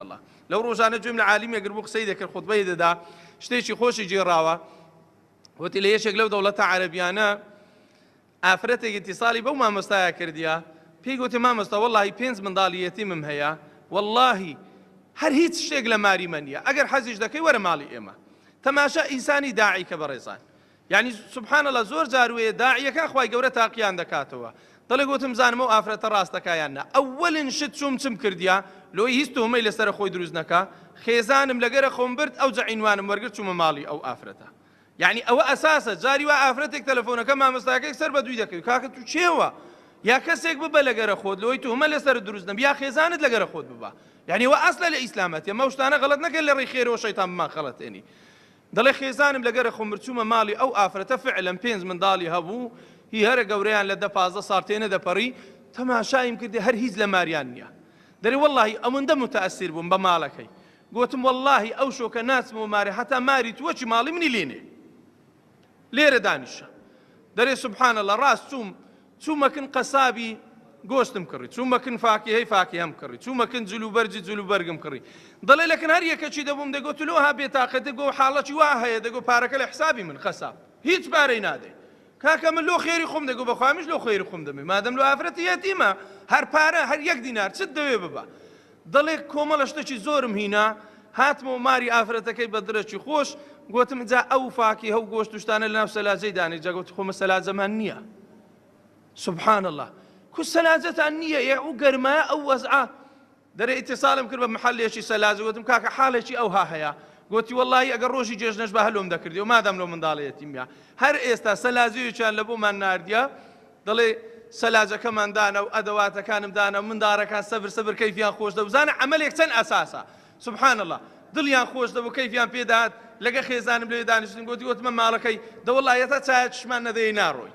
الله لەو ڕۆژانە گوێم لە عالیمێک گربوو قسەی دەکرد خودبەی دەدا شتێکی خۆشی جێراوە وتی لە یەکێک لەو دەوڵەتە عەربیانە ئافرەتێکی تیساڵی بەو مامۆستایە کردیا پێی گوتی مامۆستا وەڵی پێنج منداڵیەتیمم هەیە واللهی هەر هیچ شتێک لە ماری مەنیە ئەگەر حەزیش دەکەی وەرە ماڵی ئێمە تەماشا ئیسانی داعیکە بەڕێزان یانی سبحان اللە زۆر جار وەیە داعیەکان خوای گەورە تاقیان دەکاتەوە دڵێک وتم زانم ئەو ئافرەتە ڕاستەکە یان نا ئەوەلن شت چوم چم کردیا لۆی هیچ تۆمەی لەسەر خۆی دروست نەکا خێزانم لەگەرە خۆم برد ئەو جەعینوانم وەرگر چوومە ماڵی ئەو ئافرەتە یعنی ئەوە ئەساسە جاری وا ئافرەتێک تەلەفۆنەکە مامۆستاکەی سەر بە دووی دەکەوی کاکە تو چێوە یا کەسێک ببە لەگەرە خۆت لۆی تومە لەسەر دروست نەبی یا خێزانت لەگەرە خۆت ببە یعنی وە ئەسلە لە ئیسلامەتە مەوشتانە غەڵت نەکەن لە ڕێی خێرەوە شەیتان بمان خەڵەتێنی دەڵێ خێزانم لە گەرە خۆمر چوومە ماڵی ئەو ئافرەتە فعلەن پێنج منداڵی هەبوو هی هەرە گەورەیان لە دە پازدە ساڵ تێ نەدەپەڕی تەماشایم کردی هەر هیچ لە ماریان نیە دەرێ وەڵاهی ئەوەندە متەئەسیر بووم بە ماڵەکەی گۆتم وەڵاهی ئەو شۆکە ناچمەوە مارێ هەتا ماری تووە چی ماڵی منی لێنێ لێرە دانیشە دەرێ سبحان اللە ڕاست چووم چوو مەکن قەسابی گۆشتم کڕی، چوو مەکن فاکیهەی فاکیهەم کڕی، چوو مەکن جلوبەرگی جلوبەرگم کڕی. دەڵێ لە کن هەر یەکەکی دەبووم دەگۆ تلۆ ها بێتاقەت دەگۆ و حاڵەکی وا هەیە دەگۆ پارەکە لە حسابی من قەساب هیچ پارەی نادەی کاکە من لۆ خێری خۆم دەگۆ بەخوا منیش لۆ خێری خۆم دەمێ مادەم لۆ ئافرەتی یەتیمە هەر پارە هەر یەک دینار چت دەوێ ببە دەڵێ کۆمەڵە شتەکی زۆرم هینا، هاتمەوە ماری ئافرەتەکەی بە دڕێکی خۆش، گۆتم جا ئەو فاکیهە و گۆشت و شتانە لەناو سەلاجەی دانێ، جا گۆتی خۆ مە سەلاجەمان نییە. سبحان اللە. کو سەلاجەتان نییە ئێ ئەو گەرمایە ئەو وەزعە. دەرێ ئیتیسالم کرد بە محەلێکی سەلاجە، گۆتم کاکە حاڵێکی ئەوها هەیە، گۆتی وەڵڵاهی ئەگەر ڕۆژی جێژنەش با هەر لۆم دەکردیەوە مادام لەو منداڵە یەتیمە. هەر ئێستا سەلاجەیەکیان لە بۆمان ناردیە، دەڵێ سەلاجەکەمان دانا و ئەدەواتەکانم دانا و منداڕەکان سەبر سەبر کەیفیان خۆش دەبوو بزانە عەمەلێک چەند ئەساسە سبحان اللە دڵیان خۆش دەبوو کەیفیان پێدەهات لەگە خێزانم لێ دانیشتین گوتی وتمە ماڵەکەی دەوەڵا هێتا چایە چشمان نەدەی ناڕۆی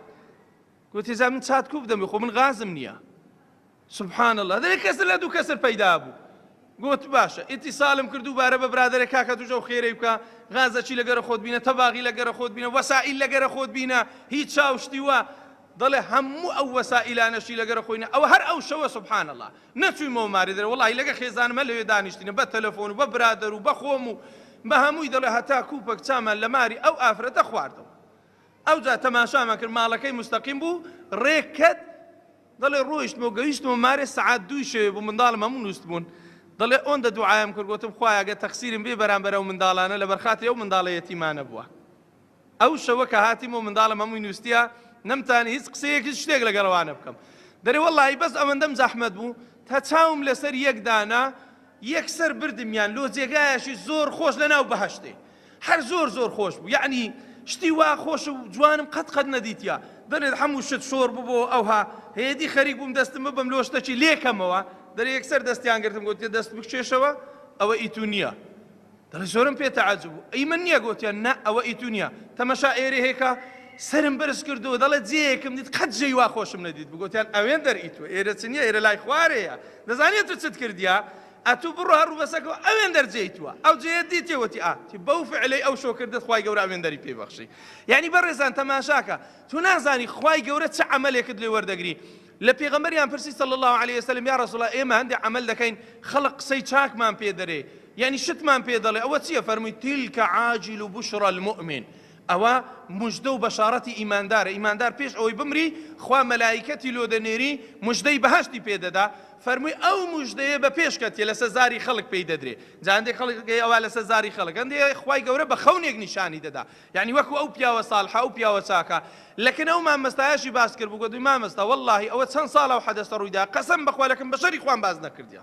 گوتی جا من چات کوو بدەم خۆ من غازم نییە سبحان اللە دەرێ کەسر لە دوو کەسر پەیدا بوو گوت باشە ئیتیسالم کرد دووبارە بە برادەرێک کاکە توش ئەو خێرەی بکە غازەچی لە گەرە خۆت بینە تەباغی لە گەرە خۆت بینە وەسائیل لە گەرە خۆت بینە هیچ چاو شتی وە دەڵێ هەموو ئەو وەسائیلانەشی لە گەرە خۆینە ئەوە هەر ئەو شەوە سبحان اللە نەچوویمەوە ماری درە وەڵاهی لەگە خێزانمە لەوێ دانیشتینە بە تەلەفۆن و بە برادەر و بە خۆم و بە هەمووی دەڵێ هەتا کوپەک چامان لە ماری ئەو ئافرەتە خواردەوە ئەوجا تەماشامان کرد ماڵەکەی مستەقیم بوو ڕێکەت دەڵێ ڕۆیشتم و گەویشتمە مارێ سەعات دووی شەوێ بوو منداڵم هەموو نووستبوون دەڵێ ئۆندە دوعایم کرد گۆتم خوایە گە تەقسیرم بێ بەرامبەر ئەو منداڵانە لە بەرخاتی ئەو منداڵە یەتیمانە بووە ئەو شەوە کە هاتیم و منداڵم هەمووی نووسە نەمتانی هیچ قسەیەک هیچ شتێک لەگەڵەوانە بکەم دەرێ وەڵی بەس ئەوەندەم زەحمەت بوو تا چاوم لەسەر یەکدانا یەکسەر بردمیان لۆ جێگایەکی زۆر خۆش لە ناو بەهەشتێ هەر زۆر زۆر خۆش بوو یەعنی شتی وا خۆش و جوانم قەت قەت نەدیتیا دەنێت هەموو شت شۆڕ ببۆ ئەوها هێدی خەریک بووم دەستم ببم لۆ شتەکی لێکەمەوە دەرێ یەکسەر دەستیان گرتم گوت دەست بکشێشەوە ئەوە ئیتو نییە دەڵێ زۆرم پێ تەعەجوب بوو ئەی من نییە گۆتیان نا ئەوە ئی تو نییە تەمەشا ئێرێ هێکا سەرم بەرز کردو دەڵێ جێیەکم دیت قەت جێی وا خۆشم نەدیت بگۆتیان ئەوێن دەر ئی تو ئێرە چ نییە ئێرە لای خوارێیە دەزانی ئەتو چت کردیە ئەتو بڕۆ هەر ڕووبەسەکەوە ئەوێن دەر جێی تووە ئەو جێیە دیتێ وەتی ئا تی بەو فعلەی ئەو شۆ کردت خوای گەورە ئەوێن دەری پێی بەخشی یعنی بەڕێزان تەماشاکە تو نازانی خوای گەورە چ عەمەلێکت لێ وەردەگری لە پێغەمبەریان پرسی صلی اللە علیە وسلم، یا رسول اللە ئێمە هەندێ عەمەل دەکەین خەڵک قسەی چاکمان پێ دەرێ یانی شتمان پێ دەڵێ ئەوە چیە فەرمووی تلک عاجل بشرا المؤمن ئەوە مژدە و بەشارەتی ئیماندارە ئیماندار پێش ئەوەی بمری خوا مەلایکەتی لۆ دەنێری مژدەی بەهەشتی پێ دەدا فەرمووی ئەو مژدەیە بە پێشکەتیە لەسەر زاری خەڵک پێی دەدرێ جا هەندێک خەڵک ئەوە لەسەر زاری خەڵک هەندێ خوای گەورە بە خەونێک نیشانی دەدا یانی وەکو ئەو پیاوە سالحە ئەو پیاوە چاکە لەکن ئەو مامەستایەشی باس کرد بوگوت مامەستا واللەهی ئەوە چەن سالە ئەو حەدەسە رویدا قەسەم بەخوا لەکن بەشەری خوام باس نەکردیە